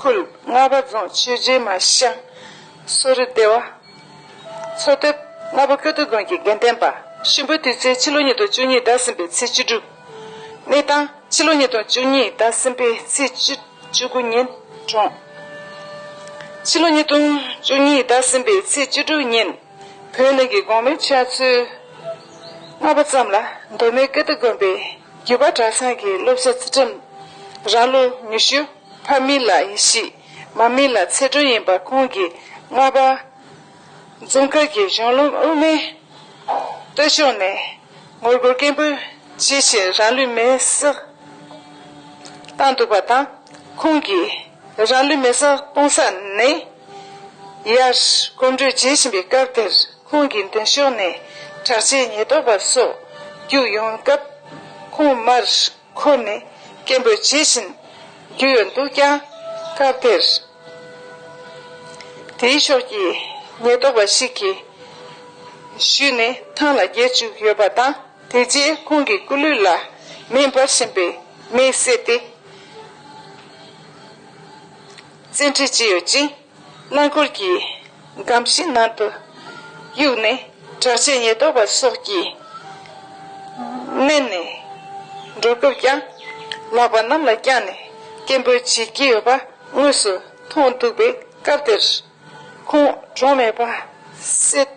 ཁུལ་རྔ་པ་རྫོང་ཆོས་རྗེ་མ་ཤང་སོ་རི་སྡེ་བ། མཚོ་དེབ་རྔ་པ་སྐྱོ་སྟོད་དགོན་གྱི་དགེ་ལྡན་པ་གཤིན་པོས་དུས་ཚེས་ཕྱི་ལོ་ཉིས་སྟོང་བཅུ་གཉིས་ཟླ་གསུམ་པའི་ཚེས་བཅུ་དྲུག། གནས་སྟངས་ཕྱི་ལོ་ཉིས་སྟོང་བཅུ་གཉིས་ཟླ་གསུམ་པའི་ཚེས་བཅུ་དགུ་ཉིན་གྲོངས། ཕྱི་ལོ་ཉིས་སྟོང་བཅུ་གཉིས་ཟླ་གསུམ་པའི་ཚེས་བཅུ་དྲུག་ཉིན་བོད་ནང་གི་གོང་མའི་ཕྱག་ཚོད་ལྔ་པ་ཙམ་ལ་མདོ་སྨད་སྐྱོ་སྟོད་དགོན་པའི་རྒྱུད་པ་གྲྭ་ཚང་གི་སློབ་བྱ་ཚུལ་ཁྲིམས་རང་ལོ་ཉི་ཤུ། ཕ་མི་ལ་ཡེ་ཤེས། མ་མི་ལ་ཚེ་སྒྲོན་ཡིན་པ་ཁོང་གིས་ལྔ་པ། རྫོང་མཁར་གྱི་གཞོན་ལུང་དབུ་མའི་སྟོད་ཕྱོགས་ནས་ངོ་རྒོལ་སྐད་འབོད་བྱེད་བཞིན་རང་ལུས་མེར་བསྲེགས་བཏང་འདུག་པ་དང། ཁོང་གིས་རང་ལུས་མེར་བསྲེགས་གཏོང་ས་ནི། ཡར་གོམ་བགྲོད་བྱེད་བཞིན་པའི་སྐབས་དེར་ཁོང་གི་མདུན་ཕྱོགས་ནས་དྲག་ཆས་ཉེན་རྟོག་པ་སོགས་བརྒྱུགས་ཡོང་སྐབས། ཁོང་མར་འཁོར་ནི་སྐྱེན་པོས་ཇི་བཞིན་རྒྱུས་འདུག་ཀྱང། སྐབས་དེར་དེའི་ཕྱོགས་ཀྱི་ཉེན་རྟོག་པ་ཞིག་གིས་གཞུས་ནས་ཐང་ལ་འགྱེལ་བཅུག་ཡོད་པ་དང་དེ་རྗེས་ཁོང་གི་སྐུ་ལུས་ལ་མེ་འབར་བཞིན་པའི་མེས་བསྲེགས་ཏེ་བཙན་ཁྲིད་བྱས་ཡོད་ཅིང། རླངས་འཁོར་གྱི་སྒམ་བཞི་ནང་དུ་གཡུགས་ནས་དྲག་ཆས་ཉེན་རྟོག་པ་སོགས་ཀྱིས་མནན་ནས་འགྲོ་སྐབས་ཀྱང་ལག་པ་གནམ་ལ་བརྐྱངས་ནས་སྐད་འབོད་བྱེད་ཀྱི་ཡོད་པ་དངོས་སུ་མཐོང་འདུག་པས་སྐབས་དེར་ཁོང་གྲོངས་མེད་པ་གསལ།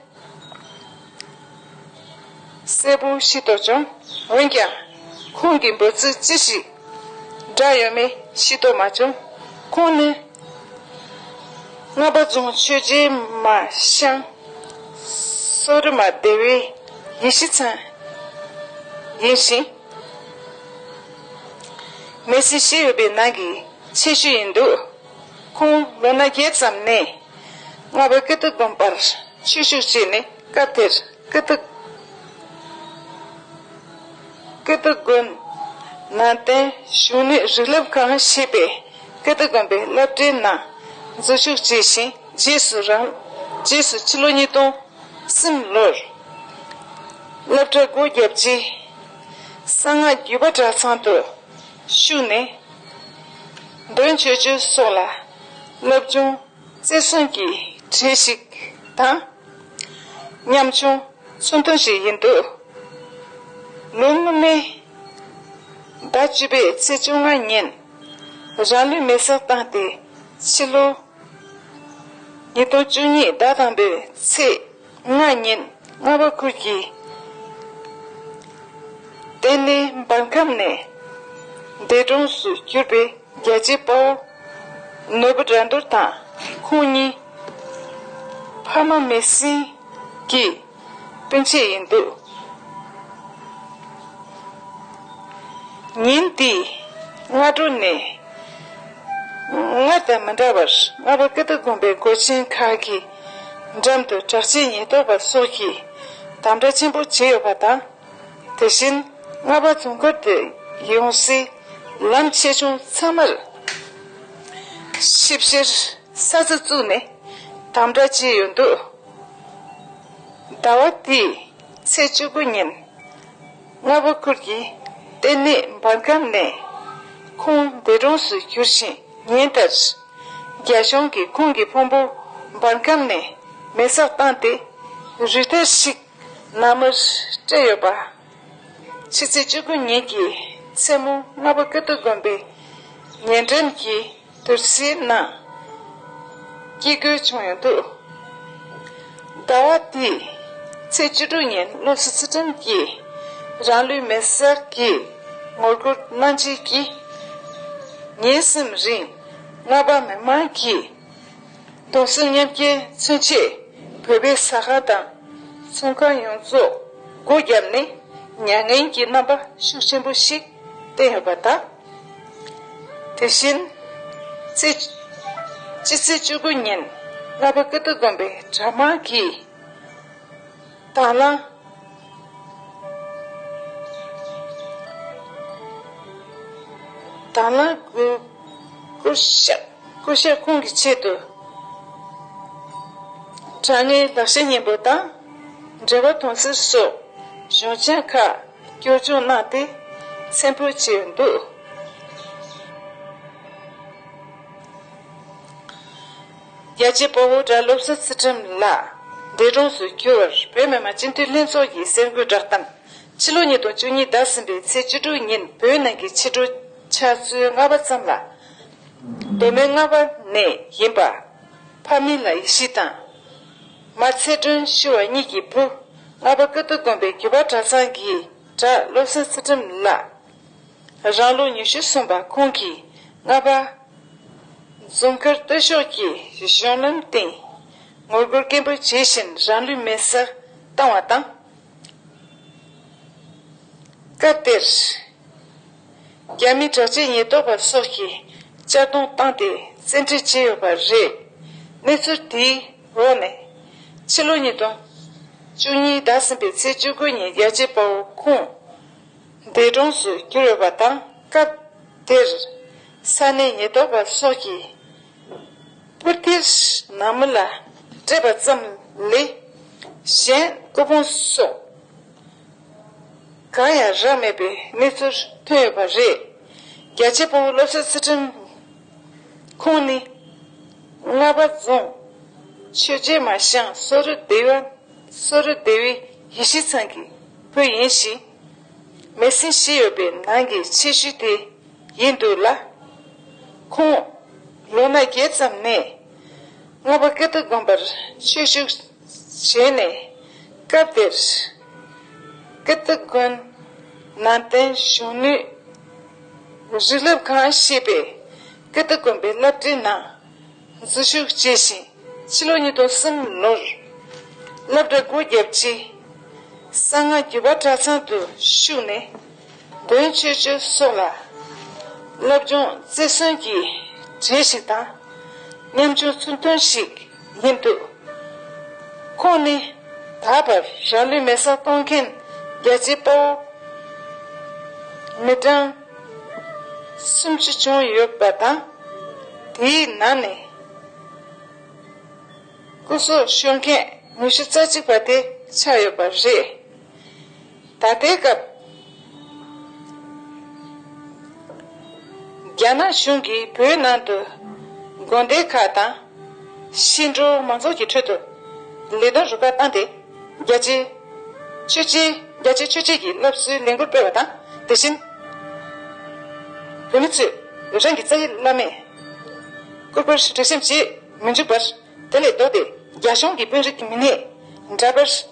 གསལ་པོ་ཤེས་རྟོགས་བྱུང། འོན་ཀྱང། ཁོང་གི་འབོད་ཚིག་ཅི་ཞིག། བསྒྲགས་ཡོད་མེད་ཤེས་རྟོགས་མ་བྱུང། ཁོང་ནི། རྔ་པ་རྫོང་ཆོས་རྗེ་མ་ཤང། སོག་རི་མ་སྡེ་བའི་ཡེ་ཤེས་ཚང། ཡིན་ཞིང། མེ་སྲི་ཞེས་ཡོད་པའི་ནང་གི་ཆེ་ཤོས་ཡིན་འདུག། ཁོང་ལོ་ན་བརྒྱད་ཙམ་ནས་རྔ་བའི་ཀི་ཏི་དགོན་པར་ཆོས་ཞུགས་བྱས་ནས་སྐབས་དེར་ཀི་ཏི་དགོན། ནང་བསྟན་བཞུགས་གནས་རིག་རླབས་ཁང་ཞེས་པའི་ཀི་ཏི་དགོན་པའི་བསླབ་གྲྭའི་ནང་འཛུལ་ཞུགས་བྱས་ཤིང་རྗེས་སུ་རྗེས་སུ་ཕྱི་ལོ་ཉིས་སྟོང་སེམས་ལོར་བསླབ་གྲྭ་སྒོ་བརྒྱབ་རྗེས་གསང་སྔགས་བརྒྱུད་པ་གྲྭ་ཚང་དུ་ཞུགས་ནས། འདོན་ཆོས་སྤྱོད་སོགས་ལ་སློབ་སྦྱོང་བརྩེ་སྲུང་གིས་བྲིས་ཤིག་དང། ཉམ་ཆུང་ཚུར་འདོན་ཞིག་ཡིན་འདུག་ལོ་སྔོན་མའི་ཟླ་བཅུ་པའི་ཚེས་བཅོ་ལྔ་ཉིན་རང་ལུས་མེར་སྲེག་བཏང་སྟེ་ཕྱི་ལོ་ཉིས་སྟོང་བཅུ་གཉིས་ཟླ་དང་པོའི་ཚེས་ལྔ་བསྙེན། ལྔ་པ་ཀུན་གྱི་རྟེན་ནི་འབར་ཁམས་ནས། འདས་གྲོངས་སུ་གྱུར་པའི་རྒྱལ་གཅེས་དཔའ་བོ། ནོར་བུ་དགྲ་འདུལ་དང་ཁོང་གཉིས། ཕ་མ་མི་སྲིང་གི་སྤུན་མཆེད་ཡིན་འདུག། ཉིན་དེའི་སྔ་དྲོ་ནས། སྔར་དང་མི་འདྲ་བར་ལྔ་པ་ཀི་ཏི་དགོན་པའི་སྒོ་ཆེན་ཁག་གི། འགྲམ་དུ་དྲག་སྤྱི་ཉིས་གཏོར་བ་སོགས་ཀྱི་དམ་དྲག་ཆེན་པོ་བྱས་ཡོད་པ་དང། དེ་བཞིན་རྔ་པ་རྫོང་མཁར་དུ་ཡོང་སའི་ལམ་ཆེ་ཆུང་ཚང་མར་ཞིབ་བཤེར་ས་ཚ་བཙུགས་ནས་དམ་དྲག་བྱས་ཡོད་འདུག་ཟླ་བ་འདིའི་ཚེས་བཅུ་དགུ་ཉིན་རྔ་པ་ཁུལ་གྱི་ལྟེ་གནས་འབར་ཁམས་ནས་ཁུངས་འདེད་གྲོངས་སུ་གྱུར་ཞིང་ཉིན་ལྟར། རྒྱ་གཞུང་གིས་ཁོང་གི་ཕུང་པོ་འབར་ཁམས་ནས་མེ་སྲེག་བཏང་སྟེ་རུས་ཐལ་ཞིག་ནང་མིར་སྤྲད་ཡོད་པ། ཕྱི་ཚེས་བཅུ་དགུ་ཉིན་གྱི་མཚན་མོ་རྔ་པ་ཀིརྟི་དགོན་པའི་ཉེ་འགྲམ་གྱི་དུར་སའི་ནང་སྐྱེས་སྐུལ་བྱུང་ཡོད་འདུག། ཟླ་བ་འདིའི་ཚེས་བཅུ་དྲུག་ཉིན་བློ་གཟུ་ཚུལ་ཁྲིམས་ཀྱིས་རང་ལུས་མེར་བསྲེགས་ཀྱི་ངོ་རྒོལ་གནང་རྗེས་ཀྱི་ཉིན་གསུམ་རིང་རྔ་པ་མི་མང་གིས་རྡོ་སོལ་མཉམ་སྐྱེལ་མཚོན་ཆས་བོད་པའི་ཟ་ཁང་དང་ཚོང་ཁང་ཡོངས་རྫོགས་སྒོ་བརྒྱབ་ནས་མྱ་ངན་གྱི་རྣམ་པ་ཤུགས་ཆེན་པོ་ཞིག་བསྟན་ཡོད་པ་དང། དེ་བཞིན། སྤྱི་ཚེས་བཅུ་དགུ་ཉིན་ལྷ་པ་ཀི་ཏི་དགོན་པའི་གྲྭ་དམངས་ཀྱིས། དྭགས་ལ། དྭགས་ལ་སྐུ་ཞབས་ཁོང་གི་ཆེད་དུ། དྲང་ངེས་ལག་ཤེས་སྙིང་པོ་དང། འབྲེལ་བ་དོན་ཚན་སོགས་གཞུང་ཆེན་ཁག། སྐྱོར་སྦྱོང་གནང་སྟེ་མཚན་འབུལ་བྱས་འདུག། རྒྱལ་གཅེས་དཔའ་བོ་གྲྭ་སློབ་གསོལ་ཚེ་ཁྲིམས་ལགས་འདས་གྲོངས་སུ་གྱུར་བར་བོད་མི་མང་སྤྱི་འཐུས་ལྷན་ཚོགས་ཀྱིས་གསལ་འགོད་བསྒྲགས་སྟངས། ཕྱི་ལོ་ཉིས་སྟོང་བཅུ་གཉིས་ཟླ་གསུམ་པའི་ཚེས་བཅུ་དྲུག་ཉིན་བོད་ནང་གི་ཕྱི་དྲོ་ཆར་ཚུལ་ལྔ་པ་ཙམ་ལ། མདོ་སྨད་རྔ་བ་ནས་ཡིན་པ། ཕ་མི་ལ་ཡེ་ཤེས་དང། མ་ཚེ་སྒྲོན་ཤི་བ་གཉིས་ཀྱི་བུ། ལྷ་པ་ཀིརྟི་དགོན་པའི་རྒྱུད་པ་གྲྭ་ཚང་གི་གྲྭ་སློབ་སེང་ཚེ་ཁྲིམས་ལགས། རང་ལོ་ཉི་ཤུ་སོན་པ་ཁོང་གིས་རྔ་པ། རྫོང་ཀིརྟི་ཕྱོགས་ཀྱི་གཞུང་ལམ་སྟེང། ངོ་རྒོལ་སྐད་འབོད་བྱེད་བཞིན་རང་ལུས་མེ་སར་བཏང་བ་དང། སྐབས་དེར། རྒྱ་མིའི་དྲག་ཆས་ཉེན་རྟོག་པ་སོགས་ཀྱིས་གཅར་རྡུང་བཏང་སྟེ་བཙན་ཁྲིད་བྱས་ཡོད་པ་རེད། གནས་ཚུལ་དེའི་འོག་ནས། ཕྱི་ལོ་ཉིས་སྟོང་བཅུ་གཉིས་ཟླ་གསུམ་པའི་ཚེས་བཅུ་དགུ་ཉིན་རྒྱལ་གཅེས་དཔའ་བོ་ཁོང་འདས་གྲོངས་སུ་གྱུར་ཡོད་པ་དང་སྐབས་དེར། ས་གནས་ཉེན་རྟོག་པ་སོགས་ཀྱིས་པུར་རྟའི་ནང་མི་ལ་སྤྲད་པ་ཙམ་ལས་གཞན་སྐུ་ཕུང་སོགས། གང་ཡང་རག་མེད་པའི་གནས་ཚུལ་ཐོན་ཡོད་པ་རེད། རྒྱལ་གཅེས་དཔའ་བོ་སློབ་གསོའི་སི་ཁྲོན་ཁོང་ནི། རྔ་པ་རྫོང། ཆོས་རྗེ་མ་ཞང་སོ་རི་སྡེ་བ། སོ་རི་སྡེ་བའི་ཡེ་ཤེས་ཚང་གི་བུ་ཡིན་ཞིང། མེ་སྲིང་བཞི་ཡོད་པའི་ནང་གི་ཆེ་ཤོས་དེ་ཡིན་འདུག་ལ། ཁོང། ལོ་ན་བརྒྱད་ཙམ་ནས་རྔ་པ་ཀིརྟི་དགོན་པར་ཆོས་ཞུགས། བྱས་ནས། སྐབས་དེར། ཀི་ཏི་དགོན། ནང་བསྟན་གཞོན་ནུའི། རི་རླབས་ཁང་ཞེས་པའི། ཀི་ཏི་དགོན་པའི་བསླབ་གྲྭའི་ནང། འཛུལ་ཞུགས་བྱས་ཤིང་ཕྱི་ལོ་ཉིས་སྟོང་གསུམ་ལོར། བསླབ་གྲྭ་སྒོ་བརྒྱབ་རྗེས། གསང་སྔགས་བརྒྱུད་པ་གྲྭ་ཚང་དུ་ཞུགས་ནས། དོན་གཅོད་ཀྱི་སྲོག་ལ། རླབས་རྒྱུན་རྩེར་སོན་གྱི་གྲས་ཤིག་དང། ཉམ་ཆུང་ཚུལ་མཐུན་ཞིག་ཡིན་འདུག་ཁོང་ནི་ད་བར་རང་ལུས་མེ་བསྲེགས་གཏོང་མཁན་རྒྱལ་གཅེས་དཔའ་བོ་མི་གྲངས་སུམ་ཅུ་བྱུང་ཡོད་པ་དང། དེའི་ནང་ནས་སྐུ་སྲོག་ཤོར་མཁན་ཉི་ཤུ་རྩ་གཅིག་པ་དེ་ཆགས་ཡོད་པ་རེད། ད་ལྟའི་སྐབས། རྒྱ་ནག་གཞུང་གིས་བོད་ནང་དུ་དགོན་སྡེ་ཁག་དང། ཤིང་འབྲུག་མང་ཚོགས་ཀྱི་ཁྲོད་དུ་ལས་དོན་རུ་ཁག་བཏང་སྟེ་རྒྱ་ཆེའི་ཆོས་བྱེད་རྒྱ་ཆེའི་ཆོས་བྱེད་ཀྱི་སློབ་གསོའི་ལས་འགུལ་སྤེལ་བ་དང་དེ་བཞིན། བོད་མི་ཚོས་རང་གི་རྩ་ཡི་བླ་མས་སྐུར་པར་དྲི་ཞིམ་བྱེད་མི་འཇུག་པར་དེ་ལས་ལྡོག་སྟེ་རྒྱ་གཞུང་གི་དཔོན་རིགས་མི་སྣས་འདྲ་པར།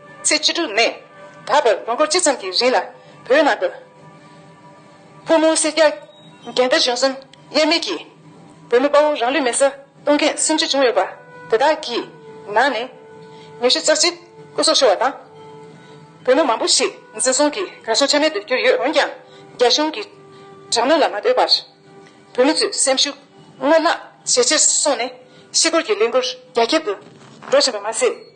ཚེས་བཅུ་དྲུག་ནས་ད་བར་དགུན་འཁོར་སྤྱི་ཙམ་གྱི་རིང་ལ་བོད་ནང་དུ། ཕོ་མོ་སེར་སྐྱ་རྒན་དར་གཞོན་གསུམ་དབྱེར་མེད་ཀྱིས། བོད་མི་དཔའ་བོ་རང་ལུས་མེར་བསྲེགས་གཏོང་མཁན་སུམ་ཅུ་བྱུང་ཡོད་པ་དེ་དག་གི་ནང་ནས། ཉི་ཤུ་རྩ་གཅིག་སྐུ་སྲོག་ཤོར་བ་དང། བོད་མི་མང་པོ་ཞིག་འཛིན་བཟུང་གིས་གར་སོང་ཆ་མེད་དུ་གྱུར་ཡོད་འོན་ཀྱང། རྒྱ་གཞུང་གི་དྲག་གནོན་ལ་མ་ལྟོས་པར། བོད་མི་ཚོས་སེམས་ཤུགས་སྔར་ལྷག་ཇེ་ཆེར་སོང་ནས། ཤི་འཁོར་གྱི་ལས་འགུལ་རྒྱ་ཁྱབ་ཏུ་འགྲོ་བཞིན་པ་མ་ཟད།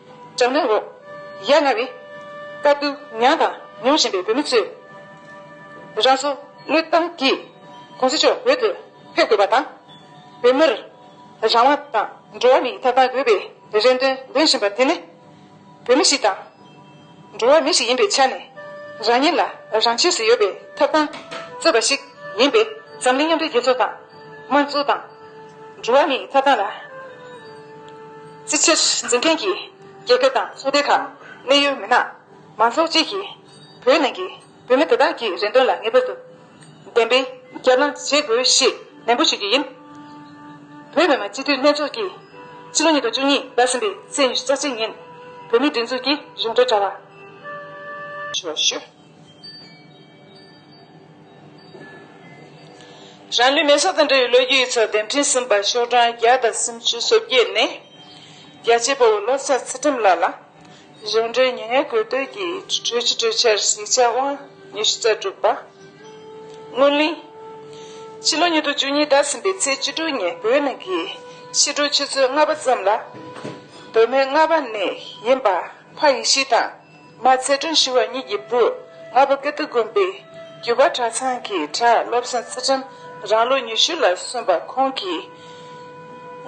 གྲང་ནད་འོག་ཡ་ང་བའི་དཀའ་སྡུག་མྱངས་དང་མྱོང་བཞིན་པའི་བོད་མི་ཚོས། རང་སྲོག་བློས་བཏང་གིས་གུང་ཟི་མཆོག་བོད་དུ་ཕེབས་དགོས་པ་དང། བོད་མིར་རང་དབང་དང་འགྲོ་བ་མིའི་ཐོབ་ཐང་དགོས་པའི་རེ་འདུན་འདོན་བཞིན་པ་དེ་ནི། བོད་མི་ཞིག་དང། འགྲོ་བ་མི་ཞིག་ཡིན་པའི་ཆ་ནས། རང་ཉིད་ལ་རང་ཆས་སུ་ཡོད་པའི་ཐོབ་ཐང་རྩོད་པ་ཞིག་ཡིན་པས་འཛམ་གླིང་མཉམ་འབྲེལ་རྒྱལ་ཚོགས་དང་དམངས་གཙོ་དང། འགྲོ་བ་མིའི་ཐོབ་ཐང་ལ་བརྩི་བྱར་འཛིན་མཁན་གྱི་རྒྱལ་ཁབ་དང་ཚོགས་སྡེ་ཁག་གནད་ཡོད་མི་དམངས་མང་ཚོགས་བཅས་ཀྱིས་བོད་ནང་གི་བུད་མེད་དེ་དག་གིས་རེ་འདོད་ལ་ངེས་པར་དུ་བདེན་པའི་རྒྱབ་ལངས་བྱེད་དགོས་ཞེས་ནན་པོ་ཞུ་རྒྱུ་ཡིན། བོད་མི་མང་སྤྱི་འཐུས་ལྷན་ཚོགས་ཀྱིས་ཕྱི་ལོ་ཉིས་སྟོང་བཅུ་གཉིས་ཟླ་གསུམ་པའི་ཚེས་ཉི་ཤུ་རྩ་གཅིག་ཉིན་བོད་མིའི་སྒྲིག་འཛུགས་ཀྱི་རིམ་གྲོ་དྲ་བ། ཞུ་བ་ཞུ། རང་ལུས་མེ་སྲོག་དང་འབྲེལ་བའི་ལོ་རྒྱུས་ཡིག་ཚོགས་འདེམས་ཁྲིམས་གསུམ་པ་ཤོག་གྲངས་བརྒྱ་དང་སུམ་ཅུ་སོ་བརྒྱད་ནས། རྒྱལ་གཅེས་སྤོ་བོ་བློ་བཟང་ཚེ་ཁྲིམས་ལགས་ལ། གཞུང་འབྲེལ་ཉེས་ངལ་གོད་བསྟོད་ཀྱི་གྲོས་གཞི་གྲོས་འཆར་གཟིགས་ཆ་དབང་ཉི་ཤུ་རྩ་དྲུག་པ། སྔོན་གླེང། ཕྱི་ལོ་ཉིས་སྟོང་བཅུ་གཉིས་ཟླ་ཟིན་པའི་ཚེས་བཅུ་དྲུག་ཉིན་བོད་ནང་གི་ཕྱི་དྲོའི་ཆུ་ཚོད་ལྔ་པ་ཙམ་ལ། བོད་མི་རྔ་པ་ནས་ཡིན་པ་ཕ་ཡེ་ཤེས་དང་མ་ཚེ་སྒྲོན་ཞུ་བ་གཉིས་ཀྱི་བུ་རྔ་པ་ཀིརྟི་དགོན་པའི་རྒྱུད་པ་གྲྭ་ཚང་གི་གྲྭ་སློབ་བསང་རྩིས་ཁྲིམས་རང་ལོ་ཉི་ཤུ་ལ་སོན་པ་ཁོང་གིས་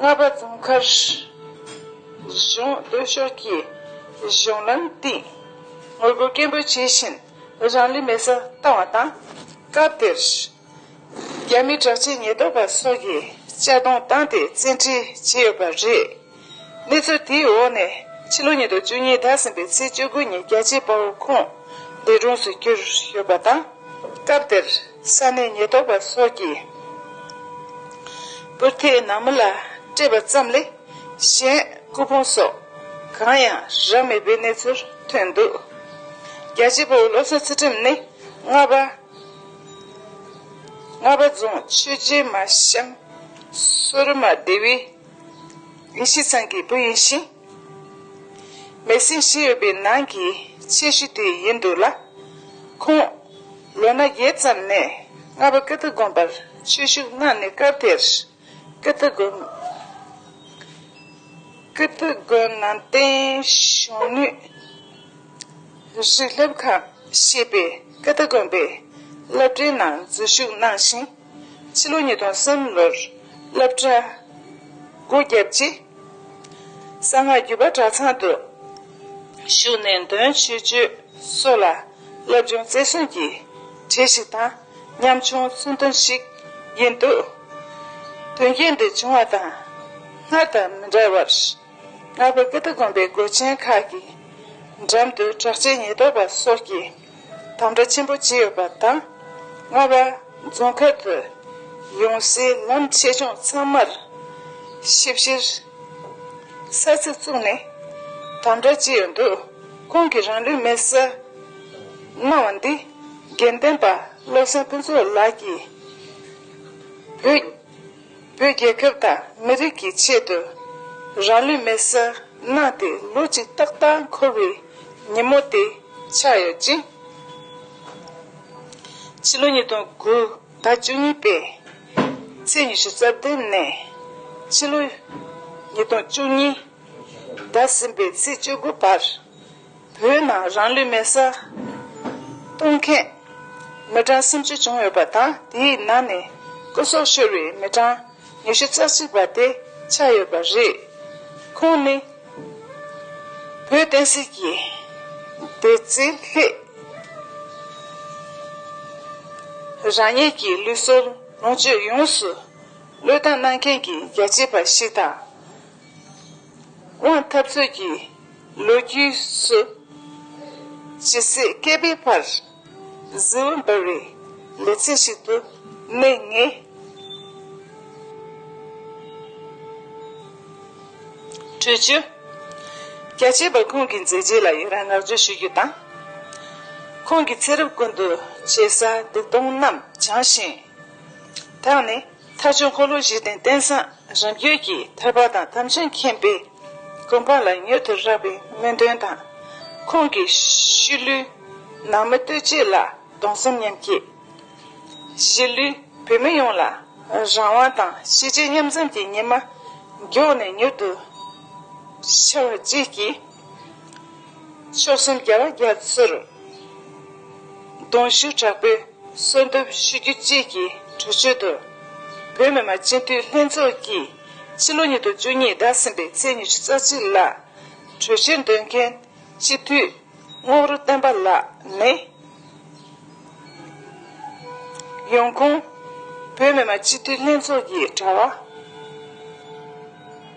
རྔ་པ་རྫོང་མཁར་གཞུང་བསྟོད་ཤོག་གྱིས་གཞུང་ལམ་བཏིང། ངོ་རྒོལ་སྐད་འབོད་བྱེད་བཞིན་རང་ལུས་མེ་སར་བཏང་བ་དང། སྐབས་དེར། རྒྱ་མི་དྲག་ཆས་ཉེན་རྟོག་པ་སོགས་ཀྱིས་གཅར་རྡུང་བཏང་སྟེ་བཙན་ཁྲིད་བྱས་ཡོད་པ་རེད། གནས་ཚུལ་དེའི་འོག་ནས་ཕྱི་ལོ་ཉིས་སྟོང་བཅུ་གཉིས་ཟླ་གསུམ་པའི་ཚེས་བཅུ་དགུ་ཉིན་རྒྱལ་གཅེས་དཔའ་བོ་ཁོང་འདས་གྲོངས་སུ་གྱུར་ཡོད་པ་དང། སྐབས་དེར་ས་གནས་ཉེན་རྟོག་པ་སོགས་ཀྱིས་པུར་ཐེད་ནང་མི་ལ་སྤྲད་པ་ཙམ་ལས། གཞན་སྐུ་ཕུང་སོགས་གང་ཡང་རག་མེད་པའི་གནས་ཚུལ་ཐོན་འདུག་རྒྱལ་གཅེས་པའི་སློབ་གསོ་ཚུལ་ཁྲིམས་ནི་རྔ་པ། རྔ་པ་རྫོང་ཆོས་རྗེ་མ་ཤམ་སོ་རི་མ་སྡེ་བའི་ཡེ་ཤེས་ཚང་གི་བུ་ཡིན་ཞིང། མེ་སྲིང་ཞིག་ཡོད་པའི་ནང་གི་ཆེ་ཤོས་དེ་ཡིན་འདུག་ལ། ཁོང་ལོ་ན་བརྒྱད་ཙམ་ནས་རྔ་པ་ཀིརྟི་དགོན་པར་ཆོས་ཞུགས་གནང་ནས་སྐབས་དེར། ཀིརྟི་དགོན། ཀིརྟི་དགོན་ནང་བསྟན་གཞོན་ནུས་རིག་སློབ་ཁང་ཞེས་པའི་ཀིརྟི་དགོན་པའི་སློབ་གྲྭའི་ནང་འཛུལ་ཞུགས་གནང་ཞིང། ཕྱི་ལོ་ཉིས་སྟོང་གསུམ་ལོར་སློབ་གྲྭ་སྒོ་བརྒྱབ་རྗེས། གསང་སྔགས་བརྒྱུད་པ་གྲྭ་ཚང་དུ་ཞུགས་ནས་འདོན་ཆོས་སྤྱོད་སོགས་ལ་སློབ་སྦྱོང་རྩེར་སོན་གྱི་གྲས་ཤིག་དང། ཉམ་ཆུང་གསོན་དོན་ཞིག་ཡིན་འདུག་དོན་རྐྱེན་འདི་བྱུང་བ་དང་སྔར་དང་མི་འདྲ་བར། ནག་པོ་ཀི་ཏི་དགོན་པའི་སྒོ་ཆེན་ཁག་གི་འགྲམ་དུ་དྲག་ཆས་ཉེན་རྟོག་པ་སོགས་ཀྱི་དམ་དྲག་ཆེན་པོ་བྱས་ཡོད་པ་དང། རྔ་བ་རྫོང་མཁར་དུ་ཡོང་སའི་ལམ་ཆེ་ཆུང་ཚང་མར་ཞིབ་བཤེར་ས་ཚིགས་བཙུགས་ནས་དམ་དྲག་བྱས་ཡོད་འདུག་ཁོང་གིས་རང་ལུས་མེར་བསྲེགས་གནང་བ་འདི། དགེ་ལྡན་པ་བློ་སེང་ཕུན་ཚོགས་ལགས་ཀྱིས། བོད་རྒྱལ་ཁབ་དང་མི་རིགས་ཀྱི་ཆེད་དུ་རང་ལུས་མེ་བསྲེགས་གནང་སྟེ་ལོ་གཅིག་ཏག་ཏག་འཁོར་བའི་ཉིན་མོ་དེ་ཆགས་ཡོད་ཅིང། ཕྱི་ལོ་ཉིས་སྟོང་དགུ་ཟླ་བཅུ་གཉིས་པའི་ཚེས་ཉི་ཤུ་རྩ་བདུན་ནས་ཕྱི་ལོ་ཉིས་སྟོང་བཅུ་གཉིས་ཟླ་གསུམ་པའི་ཚེས་བཅུ་དགུ་བར། བོད་ནང་རང་ལུས་མེར་བསྲེགས་གཏོང་མཁན་མི་གྲངས་སུམ་ཅུ་བྱུང་ཡོད་པ་དང་དེའི་ནང་ནས་སྐུ་སྲོག་ཤོར་བའི་མི་གྲངས་ཉི་ཤུ་རྩ་གཅིག་པ་དེ་ཆགས་ཡོད་པ་རེད། ཁོང་ནི་བོད་བསྟན་སྲིད་ཀྱི་བདེ་རྩའི་ལྷད། རང་ཉིད་ཀྱི་ལུས་སྲོག་ལོངས་སྤྱོད་ཡོངས་སུ་བློས་བཏང་གནང་མཁན་གྱི་རྒྱལ་གཅེས་པ་ཞིག་དང། དབང་འཐབ་རྩོད་ཀྱི་ལོ་རྒྱུས་སུ། ཇི་སྲིད་བསྐལ་པའི་བར། གཟི་འོད་འབར་བའི་ལེ་ཚན་ཞིག་ཏུ་གནས་ངེས། གྲོས་བསྡུར། རྒྱལ་གཅེས་པ་ཁོང་གི་མཛད་རྗེས་ལ་ཡི་རང་བསྔགས་བརྗོད་ཞུ་རྒྱུ་དང། ཁོང་གི་ཚེ་རབས་ཀུན་ཏུ་བྱས་བསགས་སྡིག་ལྟུང་རྣམས་བྱང་ཞིང་དག་ནས། ཐར་ཆོས་འཁོར་ལོ་བཞི་སྟེང་བསྟན་བཟང་རིམ་བརྒྱུད་ཀྱི་ཐར་པ་དང་དམ་ཅན་མཁྱེན་པའི་དགོན་པ་ལ་མྱུར་དུ་རག་པའི་སྨོན་འདུན་དང། ཁོང་གི་ཤི་ལུས་ནང་མི་ལྟོས་བཅས་ལ་གདུང་སེམས་མཉམ་སྐྱེད། གཞིས་ལུས་བོད་མི་ཡོངས་ལ་རང་དབང་དང་ཤེས་བྱའི་མཉམ་འཛོམས་ཀྱི་ཉི་མ་མགྱོགས་ནས་མྱུར་དུ་འཆར་བ་བཅས་ཀྱིས། མཆོག་གསུམ་རྒྱལ་བ་རྒྱ་མཚོས་རུ། གདུང་ཞུགས་དྲག་པོས་གསོལ་འདེབས་ཞུ་རྒྱུ་བཅས་ཀྱི་གྲོས་ཆོད་དུ། བོད་མི་མང་སྤྱི་འཐུས་ལྷན་ཚོགས་ཀྱིས་ཕྱི་ལོ་ཉིས་སྟོང་བཅུ་གཉིས་ཟླ་གསུམ་པའི་ཚེས་ཉི་ཤུ་རྩ་གཅིག་ལ་གྲོས་ཆོད་འདོན་མཁན་སྤྱི་འཐུས་རྔོག་རུ་བསྟན་པ་ལགས་ནི། ཡོང་ཁུངས། བོད་མི་མང་སྤྱི་འཐུས་ལྷན་ཚོགས་ཀྱི་དྲ་བ།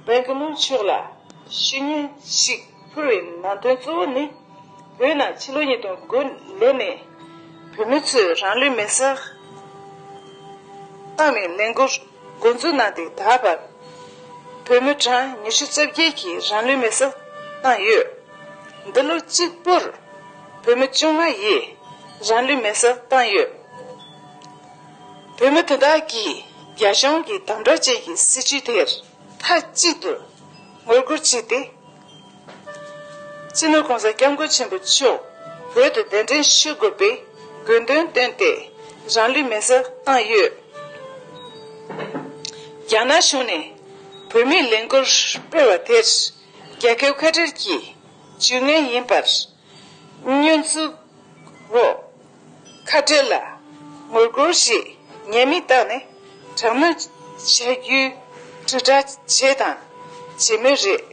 སྦེང་གི་ལུག་ཕྱོགས་ལ་ཤུལ་ཉིན་ཞིག་འཕུར་བའི་ནང་དོན་གཙོ་བོ་ནི། བོད་ནང་ཕྱི་ལོ་ཉིས་སྟོང་དགུ་ལོ་ནས་བོད་མི་ཚོས་རང་ལུས་མེར་བསྲེགས་བཏང་བའི་ལས་འགུལ་མགོ་འཛུགས་གནང་སྟེ་ད་བར་བོད་མི་གྲངས་ཉི་ཤུ་རྩ་བརྒྱད་ཀྱིས་རང་ལུས་མེར་བསྲེགས་བཏང་ཡོད། འདི་ལོ་གཅིག་པུར་བོད་མི་བཅོ་ལྔ་ཡིས་རང་ལུས་མེར་བསྲེགས་བཏང་ཡོད། བོད་མི་དེ་དག་གིས་རྒྱ་གཞུང་གི་དམ་དྲག་ཅན་གྱི་སྲིད་བྱུས་དེར་མཐའ་གཅིག་ཏུ་ངོ་རྒོལ་བྱས་ཏེ། སྤྱི་ནོར་གོང་ས་སྐྱབས་མགོན་ཆེན་པོ་མཆོག་བོད་དུ་གདན་འདྲེན་ཞུ་དགོས་པའི་དགོས་འདུན་བཏོན་ཏེ་རང་ལུས་མེ་སྲེག་བཏང་ཡོད། རྒྱ་ནག་གཞུང་ནས་བོད་མིའི་ལས་འགུལ་སྤེལ་བ་དེར་རྒྱལ་ཁའི་འཁོད་འགྲེལ་གྱིས་ཇུས་ངན་ཡིན་པར་བསྙོན་འཛུགས། རོ། ཁ་བྲལ་ལ། ངོ་རྒོལ་ཞེས་ཉེས་དམིགས་བཏགས་ནས་དྲག་གནོན་བྱ་རྒྱུའི་དྲིལ་བསྒྲགས་བྱས་དང་བྱེད་མུས་རེད།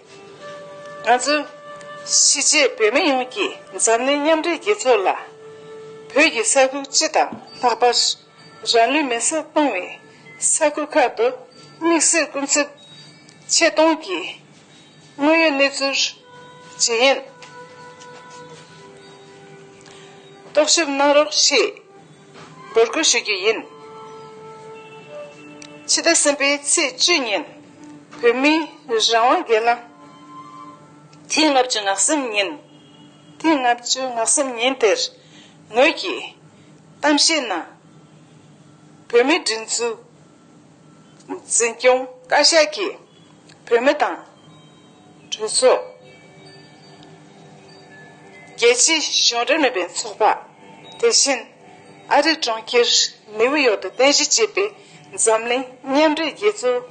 ང་ཚོ། གཞིས་བྱེས་བོད་མི་ཡོངས་ཀྱིས་འཛམ་གླིང་མཉམ་འབྲེལ་རྒྱལ་ཚོགས་ལ། བོད་ཀྱི་ས་ཁུལ་སྤྱི་དང་ལྷག་པར་རང་ལུས་མེ་སྲེག་གཏོང་བའི་ས་ཁུལ་ཁག་ཏུ་དམིགས་བསལ་སྐུ་ཚབ་ཆེད་གཏོང་གིས། དངོས་ཡོད་གནས་ཚུལ། ཇི་ཡིན། རྟོག་ཞིབ་གནང་རོགས་ཞེས། འབོད་སྐུལ་ཞུ་རྒྱུ་ཡིན། ཕྱི་ཟླ་གསུམ་པའི་ཚེས་བཅུ་ཉིན། བོད་མིའི་རང་དབང་སྒེར་ལངས། ཐེངས་ལྔ་བཅུ་ནག་སེམས་ཉིན། ཐེངས་ལྔ་བཅུ་ནག་སེམས་ཉིན་དེར། ངོས་ཀྱིས། གཏམ་བཤད་ནང། བོད་མིའི་བསྒྲིགས་འཛུགས། འཛིན་སྐྱོང་བཀའ་ཤག་གིས་བོད་མི་དང། གྲོས་ཚོགས། རྒྱལ་སྤྱིའི་གཞུང་འབྲེལ་མིན་པའི་ཚོགས་པ། དེ་བཞིན་ཨ་རི་གྲོང་ཁྱེར་ནེའུ་ཡོག་ཏུ་རྟེན་གཞི་བྱས་པའི་འཛམ་གླིང་མཉམ་འབྲེལ་རྒྱལ་ཚོགས་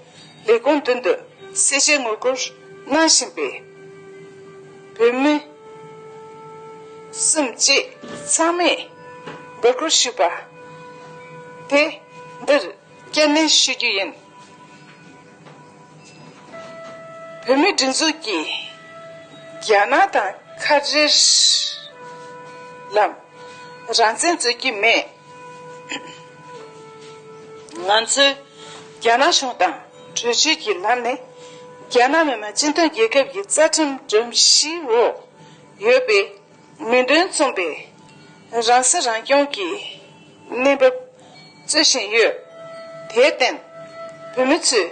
ལས་ཁུངས་མདུན་དུ་གསལ་བཤད་ངོ་རྒོལ་གནང་བཞིན་པའི་བོད་མི་གསུམ་བཅས་ཚང་མས་འབོད་སྐུལ་ཞུས་པ་དེ་འདིར། སྐྱེད་ནུས་བྱེད་རྒྱུ་ཡིན། བོད་མིའི་སྒྲིག་འཛུགས་ཀྱིས་རྒྱ་ནག་དང་ཁ་བྲལ་ལམ། རང་བཙན་རྩོད་ཀྱི་མེད། ང་ཚོས་རྒྱ་ནག་གཞུང་དང་གྲོས་ཆོད་ཀྱི་ལམ་ནས་རྒྱ་ནག་མི་དམངས་སྤྱི་མཐུན་རྒྱལ་ཁབ་ཀྱི་རྩ་ཁྲིམས་སྒྲོམ་གཞིའི་འོག་ཡོད་པའི་མིང་དོན་མཚུངས་པའི་རང་སྲིད་རང་སྐྱོང་གི་གནས་བབ་རྩོད་བཞིན་ཡོད། དེར་བརྟེན། བོད་མི་ཚོས་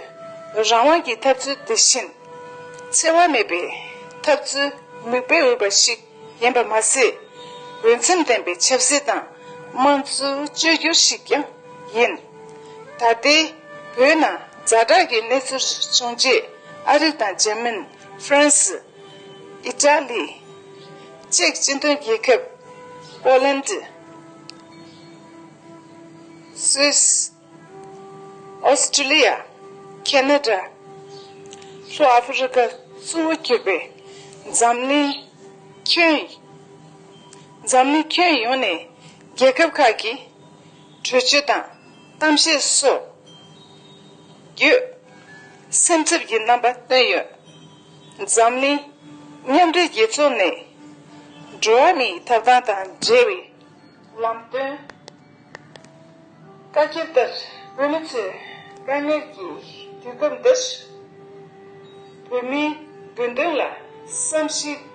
རང་དབང་གི་ཐབས་ཚུལ་དེ་བཞིན་འཚེ་བ་མེད་པའི་ཐབས་ཚུལ་མིག་དཔེ་འོས་པ་ཞིག་ཡིན་པ་མ་ཟད། འོས་འཚམ་ལྡན་པའི་ཆབ་སྲིད་དང་དམངས་གཙོའི་བཅོས་བསྒྱུར་ཞིག་ཀྱང་ཡིན། ད་ལྟའི་བོད་ནང་རྫ་དྲག་གི་གནས་ཚུལ་བྱུང་རྗེས་ཨ་རི་དང་འཇར་མན། ཧྥ་རན་སི། ཨི་ཏྲ་ལི། ཅེཀ་སྤྱི་མཐུན་རྒྱལ་ཁབ། Poland། Swiss། Australia། Canada། ལྷོ་ཨ་ཧྥི་རི་ཀ་གཙོ་བོ་གྱུར་པའི་འཛམ་གླིང་ཁྱོན་འཛམ་གླིང་ཁྱོན་ཡོངས་ནས་རྒྱལ་ཁབ་ཁག་གི་གྲོས་ཆོད་དང་གཏམ་བཤད་སོགས་བརྒྱུད་སེམས་འཚབ་ཀྱི་རྣམ་པ་བཏོན་ཡོད། འཛམ་གླིང། མཉམ་འབྲེལ་རྒྱལ་ཚོགས་ནས། འགྲོ་བ་མིའི་ཐོབ་ཐང་དང་འབྲེལ་བའི། ལམ་སྟོན། བཀའ་རྒྱ་ལྟར་བོད་མི་ཚོས་དཀའ་ངལ་གྱི་དུས་སྐབས་འདིར། བོད་མིའི་དགོས་འདུན་ལ་བསམ་གཞིགས་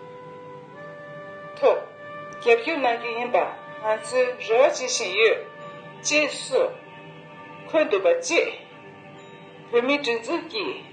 ཐོག་རྒྱབ་སྐྱོར་གནང་རྒྱུ་ཡིན་པ་ང་ཚོའི་རེ་བ་བྱེད་བཞིན་ཡོད། ཅེས་སོགས་འཁོད་འདུག་པ་བཅས། བོད་མིའི་སྒྲིག་འཛུགས་ཀྱི།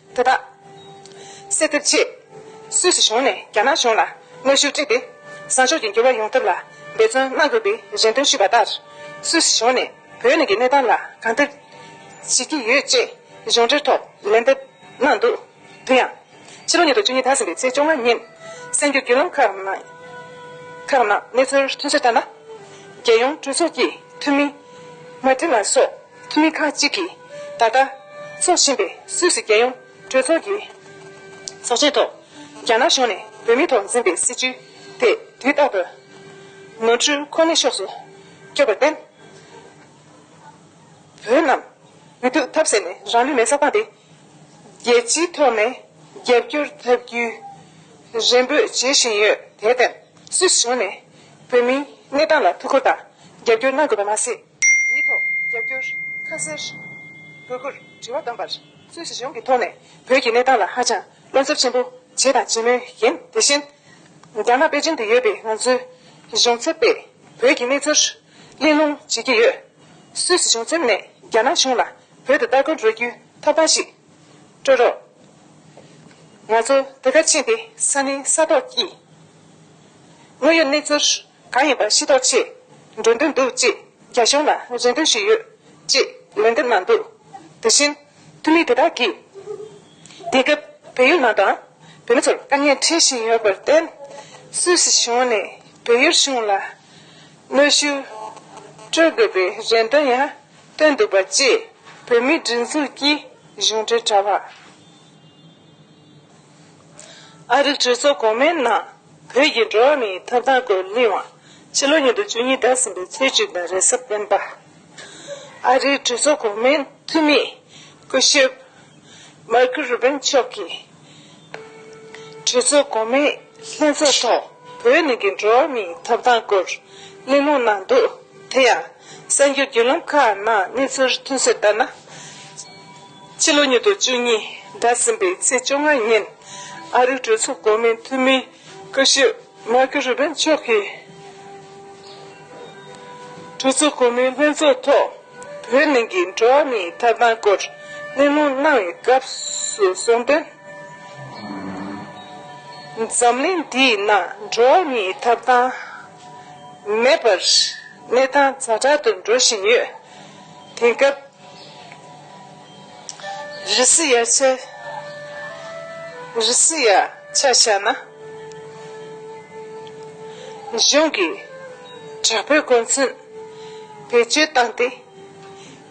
དེ་དག་སེལ་ཐབས་ཆེད་སུད་སི་གཞུང་ནས་རྒྱ་ནག་གཞུང་ལ་གནོད་ཤུགས་སྤྲད་དེ། བཟང་ཕྱོགས་ཀྱི་འགྱུར་བ་ཡོང་ཐབས་ལ་འབད་བརྩོན་གནང་དགོས་པའི་རེ་འདུན་ཞུས་པ་ལྟར། སུད་སི་གཞུང་ནས་བོད་ནང་གི་གནས་སྟངས་ལ་གང་ཐུབ་བྱེད་ཀྱི་ཡོད་ཅེས་གཞུང་འབྲེལ་ཐོག་ལན་འདེབས་གནང་འདུག་དེ་ཡང། ཕྱི་ལོ་ཉིས་སྟོང་བཅུ་གཉིས་ད་ཟིན་པའི་ཚེས་བཅོ་ལྔ་ཉིན་གསར་འགྱུར་བརྒྱུད་ལམ་ཁག་ནང་གནས་ཚུལ་ཐོན་ཚུལ་ལྟར་ན། རྒྱལ་ཡོངས་གྲོས་ཚོགས་ཀྱི་འཐུས་མི་མཱ་ཏིན་ལཱ་སོགས། ཁྱིམ་ཁ་གཅིག་གིས་ད་ལྟ་འཚོ་བཞིན་པའི་སུད་སི་རྒྱལ་ཡོངས་གྲོས་ཚོགས་ཀྱི་ཚོགས་ཆེན་ཐོག་རྒྱ་ནག་གཞུང་ནས་བོད་མིའི་ཐོག་འཛིན་པའི་སྲིད་བྱུས་དེ་དུས་རྟག་ཏུ་ནོར་འཁྲུལ་ཁོ་ནའི་ཕྱོགས་སུ་བསྐྱོད་པར་བརྟེན། བོད་རྣམས་འུ་ཐུག་ཐབས་ཟད་ནས་རང་ལུས་མེ་བསྲགས་སྟངས་དེ་རྒྱལ་སྤྱིའི་ཐོག་ནས་རྒྱབ་སྐྱོར་ཐབས་རྒྱུའི་རེ་འབོད་བྱེད་བཞིན་ཡོད། དེར་བརྟེན་སུད་སི་གཞུང་ནས་བོད་མིའི་གནས་སྟངས་ལ་ཐུགས་ཁུར་དང་རྒྱབ་སྐྱོར་གནང་དགོས་པ་མ་ཟད། མི་ཐོག། རྒྱབ་སྐྱོར། ཁ་གསལ། དགོས་མཁོར་དྲི་བ་བཏོན་པར། སུད་སི་གཞུང་གི་ཐོག་ནས་བོད་ཀྱི་གནས་སྟངས་ལ་ཧ་ཅང་བློ་འཚབ་ཆེན་པོ་བྱས་དང་བྱེད་མུས་ཡིན། དེ་བཞིན། རྒྱ་ནག་པེ་ཅིང་དུ་ཡོད་པའི་ང་ཚོའི་གཞུང་ཚབ་པས་བོད་ཀྱི་གནས་ཚུལ་གླེང་སློང་བྱེད་ཀྱི་ཡོད། སུད་སི་གཞུང་ཚབ་ནས་རྒྱ་ནག་གཞུང་ལ་བོད་དུ་ལྟ་སྐོར་འགྲོ་རྒྱུའི་ཐོབ་ཐང་ཞིག་སྤྲོད་རོགས། ང་ཚོ་དེ་གར་ཕྱིན་ཏེ་ས་གནས་ས་ཐོག་གི་དངོས་ཡོད་གནས་ཚུལ་གང་ཡིན་པ་ཤེས་རྟོགས་ཆེད། འགྲོ་འདོད་འདུག་ཅེས་རྒྱ་གཞུང་ལ་རེ་འདུན་ཞུས་ཡོད། ཅེས་ལན་འདེབས་གནང་འདུག་དེ་བཞིན། འཐུས་མི་དེ་དག་གིས། དེང་སྐབས་བལ་ཡུལ་ནང་དང། བོད་མི་ཚོར་དཀའ་ངལ་འཕྲད་བཞིན་ཡོད་པར་བརྟེན། སུད་སི་གཞུང་ནས་བལ་ཡུལ་གཞུང་ལ་གནོད་ཤུགས་སྤྲོད་དགོས་པའི་རེ་འདུན་ཡང་བཏོན་འདུག་པ་བཅས་བོད་མིའི་སྒྲིག་འཛུགས་ཀྱི་གཞུང་འབྲེལ་དྲ་བ། ཨ་རིའི་གྲོས་ཚོགས་གོང་མའི་ནང་བོད་ཀྱི་འགྲོ་བ་མིའི་ཐོབ་ཐང་སྐོར་གླེང་བ། ཕྱི་ལོ་ཉིས་སྟོང་བཅུ་གཉིས་ཟླ་གསུམ་པའི་ཚེས་བཅུ་དང་རེས་གཟའ་སྤེན་པ། ཨ་རིའི་གྲོས་ཚོགས་གོང་མའི་འཐུས་མི་སྐུ་ཞབས Marco Rubin མཆོག་གིས། གྲོས་ཚོགས་གོང་མའི་ལྷན་ཚོགས་ཐོག་བོད་ནང་གི་འགྲོ་བ་མིའི་ཐོབ་ཐང་སྐོར་གླེང་སློང་གནང་འདུག་དེ་ཡང། གསར་འགྱུར་བརྒྱུད་ལམ་ཁག་ནང་གནས་ཚུལ་མཐུན་གསལ་ལྟར་ན། ཕྱི་ལོ་ཉིས་སྟོང་བཅུ་གཉིས་འདས་ཟིན་པའི་ཚེས་བཅོ་ལྔ་ཉིན། ཨ་རིའི་གྲོས་ཚོགས་གོང་མའི་འཐུས་མི་སྐུ་ཞབས་མཱ་ཀི་རུ་པིན་མཆོག་གིས། གྲོས་ཚོགས་གོང་མའི་ལྷན་ཚོགས་ཐོག་བོད་ནང་གི་འགྲོ་བ་མིའི་ཐོབ་ཐང་སྐོར་གླེང་སློང་གནང་བའི་སྐབས་སུ་གསུངས་དོན། འཛམ་གླིང་འདིའི་ནང་འགྲོ་བ་མིའི་ཐོབ་ཐང། མེད་པར་གནས་སྟངས་ཛ་དྲག་ཏུ་འགྲོ་བཞིན་ཡོད། དེང་སྐབས་རི་སི་ཡ་ཆ་རི་སི་ཡ་ཆ་བཞག་ན་གཞུང་གིས་དྲག་པོའི་རྒོལ་མཚོན་བེད་སྤྱོད་བཏང་སྟེ་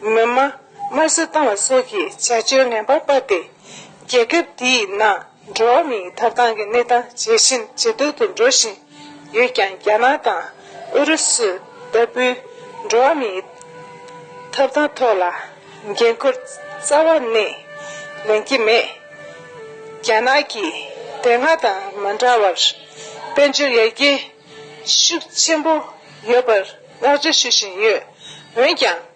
མི་དམངས་དམར་གསོད་བཏང་བ་སོགས་ཀྱི་བྱ་སྤྱོད་ངན་པ་སྤར་ཏེ་རྒྱལ་ཁབ་དེའི་ནང་འགྲོ་བ་མིའི་ཐོབ་ཐང་གི་གནས་སྟངས་ཇེ་ཞན་ཇེ་སྡུག་ཏུ་འགྲོ་བཞིན་ཡོད་ཀྱང་རྒྱ་ནག་དང་ཨུ་རུ་སུ་ལྟ་བུའི་འགྲོ་བ་མིའི་ཐོབ་ཐང་ཐོག་ལ་འགན་ཁུར་རྩ་བ་ནས་ལེན་གྱི་མེད། རྒྱ་ནག་གིས་དེ་སྔ་དང་མ་འདྲ་བར་དཔལ་འབྱོར་ཡར་རྒྱས་ཤུགས་ཆེན་པོ་ཡོད་པར་བསྔགས་བརྗོད་ཞུ་བཞིན་ཡོད། འོན་ཀྱང།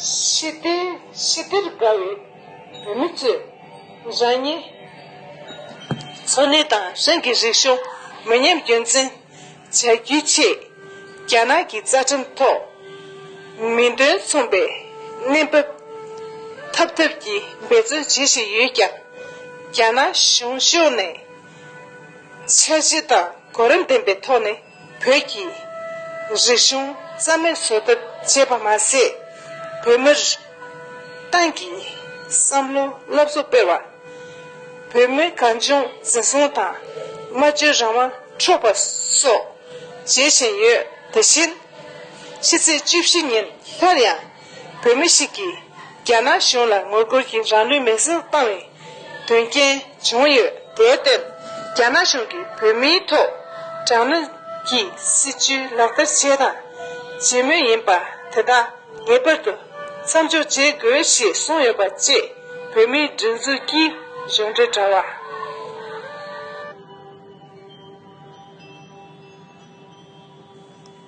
ཞི་བདེ་ཞི་བདེར་དགའ་བའི་བོད་མི་ཚོས། རང་ཉིད། འཚོ་གནས་དང་རང་གི་རིག་གཞུང་མི་ཉམས་རྒྱུན་འཛིན་བྱ་རྒྱུའི་ཆེད། རྒྱ་ནག་གི་རྩ་ཁྲིམས་ཐོག་མིང་དོན་མཚུངས་པའི་གནས་བབ་འཐབ་འཐབ་ཀྱིས་འབད་བརྩོན་བྱེད་བཞིན་ཡོད་ཀྱང། རྒྱ་ནག་གཞུང་ཕྱོགས་ནས་འཆར་གཞི་དང་གོ་རིམ་ལྡན་པའི་ཐོག་ནས་བོད་ཀྱི་རིག་གཞུང་རྩ་མེད་བཟོ་ཐབས་བྱས་པ་མ་ཟད། བོད་མིར་ཏང་གི་བསམ་བློའི་སློབ་གསོ་སྤེལ་བ། བོད་མིའི་གངས་ལྗོངས་འཛིན་བཟུང་དང་སྨྲ་བརྗོད་རང་དབང་འཕྲོག་པ་སོགས་བྱེད་བཞིན་ཡོད། དེ་བཞིན་ཕྱི་ཚེས་བཅུ་བཞི་ཉིན་སླར་ཡང་བོད་མི་ཞིག་གིས་རྒྱ་ནག་གཞུང་ལ་ངོ་རྒོལ་གྱིས་རང་ལུས་མེར་བསྲེགས་བཏང་བའི་དོན་རྐྱེན་བྱུང་ཡོད། དེར་བརྟེན་རྒྱ་ནག་གཞུང་གིས་བོད་མིའི་ཐོག་དྲག་གནོན་གྱི་སྲིད་བྱུས་ལག་བསྟར་བྱས་དང་བྱེད་མུས་ཡིན་པ་དེ་དག་ངེས་པར་དུ་མཚམས་འཇོག་བྱེད་དགོས་ཞེས་གསུངས་ཡོད་པ་བཅས་བོད་མིའི་སྒྲིག་འཛུགས་ཀྱི་གཞུང་འབྲེལ་དྲ་བ།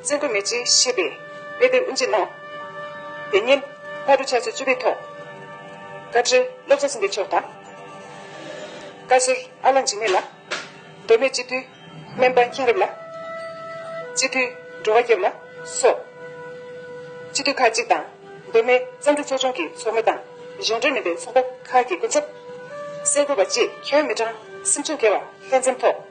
བཙན་དུ་མེད་ཅེས་ཤེས་པས་དཔེ་དེབ་དབུ་འབྱེད་གནང། དེ་ཉིན་ཕག་གྲུ་ཕྱག་ཚོད་བཅུ་པའི་ཐོག་བཀའ་ཁྲི་བློ་བཟང་སེང་གེ་མཆོག་དང། བཀའ་ཟུར་ཨ་ལགས་འཇིགས་མེད་ལགས། མདོ་སྨད་སྤྱི་འཐུས་སྨན་པ་མཁྱེན་རབ་ལགས། སྤྱི་འཐུས་འགྲོ་བ་སྐྱབས་ལགས་སོགས་སྤྱི་འཐུས་ཁག་ཅིག་དང་མདོ་སྨད་བརྩམས་སྒྲུང་ཚོགས་ཆུང་གི་ཚོགས་མི་དང་གཞུང་འབྲེལ་མིན་པའི་ཚོགས་པ་ཁག་གི་སྐུ་ཚབ། གསལ་བཀོད་པ་བཅས་ཁྱོན་མི་གྲངས་སེམས་ཅུང་བརྒལ་བ་ལྷན་འཛོམས་ཐོག།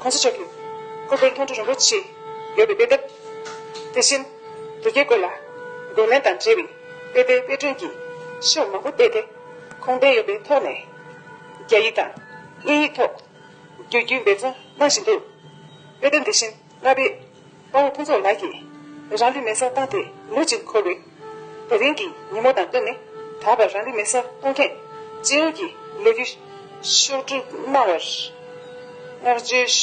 ཁོང་ཚོ་ཆོས་ཀྱི་སྐུ་དཔེར་མཐོང་ཐོས་རིན་པོ་ཆེ་ཡོད་པའི་དཔེ་དེབ། དེ་བཞིན་དུ་རྒྱས་བཀོད་ལ་འགོད་ལེན་དང་འབྲེལ་བའི་དཔེ་དེབ་དཔེ་སྐྲུན་གྱི་ཤོག་མང་པོ་བལྟས་ཏེ་ཁུངས་ལྡན་ཡོད་པའི་ཐོག་ནས་རྒྱ་ཡིག་དང་དབྱིན་ཡིག་ཐོག་བསྒྱུར་རྒྱུའི་འབད་བརྩོན་གནང་བཞིན་འདུག་དཔེ་དེབ་འདི་བཞིན་ལྔ་པའི། དཔའ་བོ་ཕུན་ཚོགས་ལགས་ཀྱིས་རང་ལུས་མེ་སར་བཏང་སྟེ་ལོ་གཅིག་འཁོར་བའི་ད་རིང་གི་ཉིན་མོ་དང་བསྟུན་ནས་ད་བར་རང་ལུས་མེ་སར་གཏོང་མཁན་སྤྱི་ཡོངས་ཀྱི་ལས་བུ་ཤོག་གྲུ་གནང་བར་བསྔགས་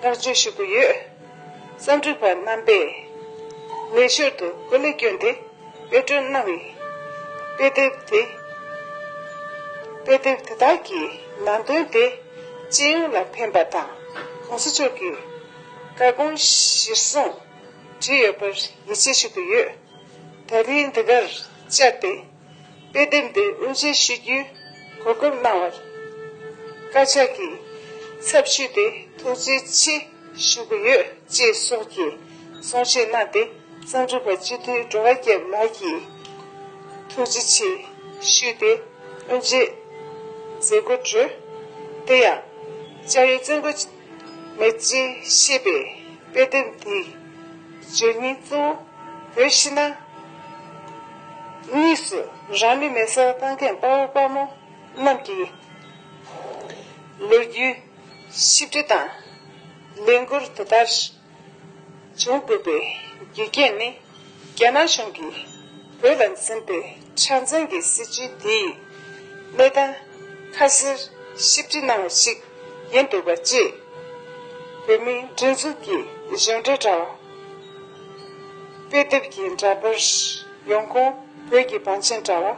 བརྗོད་ཞུ་གི་ཡོད། གསར་འགྱུར་པ་རྣམ་པས་ལས་ཞོར་དུ་གོ་ལའི་སྐྱོན་དེ། དཔེ་སྐྲུན་གནང་བའི་དཔེ་དེབ་དེ་དཔེ་དེབ་དེ་དག་གི་ནང་དོན་དེ་སྤྱི་ཡོངས་ལ་ཕན་པ་དང་གོང་ས་མཆོག་གི་བཀའ་དགོངས་གཞིར་བཟུང་བྲིས་ཡོད་པར་ཡིད་ཆེས་ཞུ་གི་ཡོད། ད་རིང་འདི་གར་བཅར་ཏེ་དཔེ་དེབ་འདི་དབུ་འབྱེད་ཞུ་རྒྱུའི་གོ་སྐབས་གནང་བར་བཀའ་ཤག་གི་ཚབ་ཞུས་ཏེ་ཐུགས་རྗེ་ཆེ་ཞུ་གི་ཡོད་ཅེས་སོགས་ཀྱི་གསུང་བཤད་གནང་སྟེ། རྩ་འགྲུབ་པ་སྤྱི་མཐུས་འགྲོ་བ་རྒྱལ་མ་གྱིས། ཐུགས་རྗེ་ཆེ་ཞུས་ཏེ་དབོན་རྗེས་མཛད་སྒོ་གྲོལ། དེ་ཡང་ལྕགས་ཡོས་བཙན་རྒོད་མེ་ལྕེ་ཞེས་པའི་དཔེ་དེབ་འདི་བརྗོད་སྙིང་གཙོ་བོ་བོད་ཕྱི་ནང་གཉིས་སུ་རང་མི་མེད་སར་བཏང་མཁན་དཔའ་བོ་དཔའ་མོ་རྣམས་ཀྱི་ལོ་རྒྱུས་གཤིབ་འབྲི་དང་ལས་འགུལ་དེ་ལྟར། བྱེད་དགོས་པའི་དགེ་རྒན་ནི་རྒྱ་ནག་གཞུང་གིས་བོད་ལ་འཛིན་པའི་འཆར་འཛིན་གྱི་སྲིད་བྱུས་དེ་ཡི་གནས་སྟངས་ཁ་གསལ་ཞིབ་འབྲི་གནང་བ་ཞིག་ཡིན་འདུག་པ་བཅས། བོད་མིའི་སྒྲིག་འཛུགས་ཀྱི་གཞུང་འབྲེལ་དྲ་བ། དཔེ་དེབ་ཀྱི་འདྲ་པར། ཡོང་ཁུངས་བོད་ཀྱི་བང་ཆེན་དྲ་བ།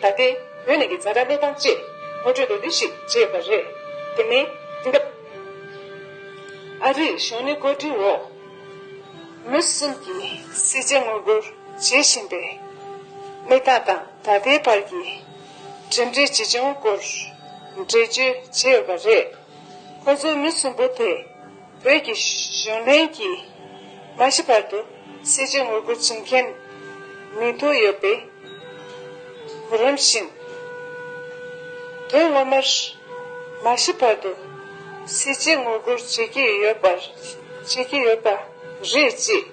ད་ལྟའི་བོད་ནང་གི་རྫ་དྲ་གནས་སྟངས་བཅས་ངོ་སྤྲོད་དེ་འདི་ཞིག་བརྗེད་པ་རེད། དེ་མིན་དེང་སྐབས་ཨ་རིའི་གཞུང་ནས་བཀོད་སྒྲིག་འོག་མུ་སུམ་གྱི་སྲིད་ཇེ་ངོ་རྒོལ་བྱེད་བཞིན་པའི་གནས་སྟངས་དང་ད་ལྟའི་བར་གྱི་གྲུབ་འབྲས་ཇི་བྱུང་སྐོར་འགྲེལ་བརྗོད་བྱས་ཡོད་པ་རེད། ཁོ་ཚོའི་མི་གསུམ་པོ་དེ་བོད་ཀྱི་གཞུང་འབྲེལ་གྱིས་མ་ཤི་བར་དུ་སྲིད་ཇུས་ངོ་རྒོལ་བྱེད་མཁན་མི་དོ་ཡོད་པའི་གོ་རིམ་བཞིན། དོན་ངོ་མར་མ་ཤི་བར་དུ་སྲིད་ཇུས་ངོ་རྒོལ་བྱེད་ཀྱི་ཡོད་པ་བྱེད་ཀྱི་ཡོད་པ་རེད་ཅེས་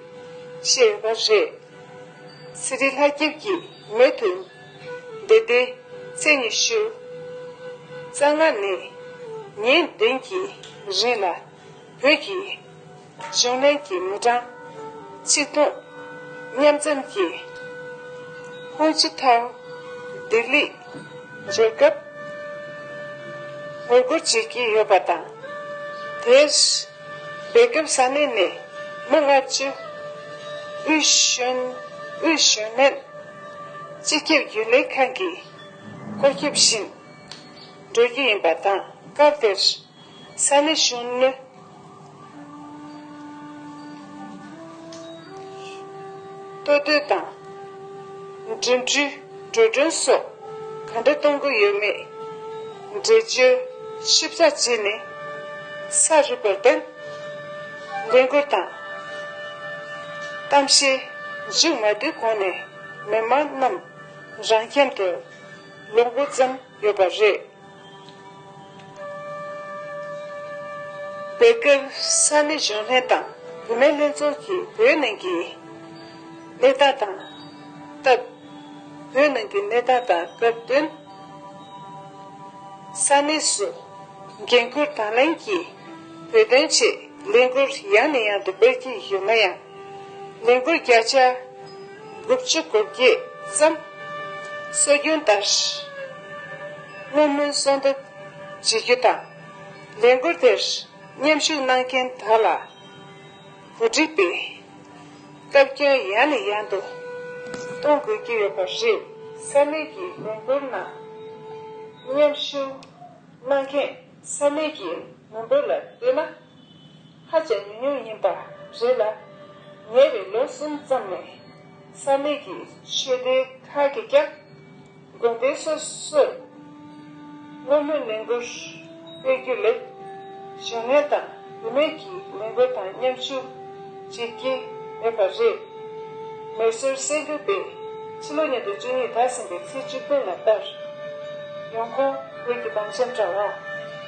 བཤད་ཡོད་པ་རེད། སི་རི་ལྷ་སྐྱིབས་ཀྱིས་མེད་དུ། བདེ་བདེ། ཚེས་ཉི་ཤུ། རྩ་སྔ་ནས། ངས་བདེན་གྱི་རིགས་ལ། བོད་ཀྱི། གཞུང་ལེན་གྱི་མི་གྲངས། ཆིག་སྟོང། མཉམ་འཛོམས་ཀྱི། ཧུང་ཅི་ཐང། ལྡི་ལི། འབྱོར་སྐབས། ངོ་རྒོལ་བྱེད་ཀྱི་ཡོད་པ་དང། དེར། སྦེལ་རྒྱོམ་ས་གནས་ནས་མི་ལྔ་བཅུ། དབུས་གཞོན། དབུས་གཞོན་ལྷན། སྤྱི་ཁྱབ་རྒྱུན་ལས་ཁང་གིས་ཁོར་སྐྱོད་བཞིན་འགྲོ་རྒྱུ་ཡིན་པ་དང་སྐབས་དེར་ས་གནས་གཞོན་ནུ་གཏོད་འདོད་དང་འགྲིམ་འགྲུལ་འགྲོ་གྲོན་སོགས་ག་འདྲ་གཏོང་དགོས་ཡོད་མེད་འགྲེལ་བརྗོད་ཞིབ་ཚགས་བྱས་ནས་ས་རིམ་པར་བརྟེན་ལས་འཁུར་དང་གཏམ་བཤད། གཞི་མ་དེ་གོང་ནས་མི་མང་རྣམས་རང་ཁྱིམ་དུ་ལོག་འགོ་བརྩམས་ཡོད་པ་རེད། དེ་སྐབས་ས་གནས་གཞོན་ལྷན་དང་བུད་མེད་ལྷན་ཚོགས་ཀྱིས་བོད་ནང་གི་གནས་སྟངས་དང་སྐབས་བོད་ནང་གི་གནས་སྟངས་དང་སྐབས་བསྟུན་ས་གནས་སུ་འགན་ཁུར་དང་ལེན་གྱིས་བོད་དོན་ཆེད་ལས་འགུར་ཡང་ནས་ཡང་དུ་སྤེལ་གྱི་ཡོད་ན་ཡང། ལས་འགུལ་བརྒྱ་ཆ་དགུ་བཅུ་དགུ་བརྒྱད་ཙམ་སྲོལ་རྒྱུན་ལྟར་བསྔོ་སྨོན་གསོལ་འདེབས་བྱེད་རྒྱུ་དང། ལས་འགུལ་དེར་མཉམ་ཞུགས་གནང་མཁན་དག་ལ་གོ་སྒྲིག་པས་བཀའ་བཀྱོན་ཡང་ནས་ཡང་དུ་གཏོང་དགོས་ཀྱི་ཡོད་པ་རེད། ས་གནས་ཀྱི་ལས་འགུལ་ནང་མཉམ་ཞུགས་གནང་མཁན་ས་གནས་ཀྱི་མི་འབོར་ལ་ལྟོས་ན། ཧ་ཅང་མི་ཉུང་ཡིན་པ་རེད་ལ། ཉེ་བའི་ལོ་གསུམ་ཙམ་ནས་ས་གནས་ཀྱི་ཆོས་སྡེ་ཁག་གིས་ཀྱང་དགོན་སྡེ་སོ་སོར་བསྔོ་སྨོན་ལས་འགུལ་སྤེལ་རྒྱུ་ལས། གཞོན་ནུ་དང་བུད་མེད་ཀྱི་ལས་འགུལ་དང་མཉམ་ཞུགས་བྱེད་ཀྱི་མེད་པ་རེད། མེ་སོལ་གསེར་འགྱུར་པས་ཕྱི་ལོ་ཉིས་སྟོང་བཅུ་གཉིས་དར་ཟིན་པའི་ཚེས་བཅུ་བདུན་ལ་ལྟར། ཡོང་ཁུངས་བོད་ཀྱི་བང་ཆེན་དྲ་བ།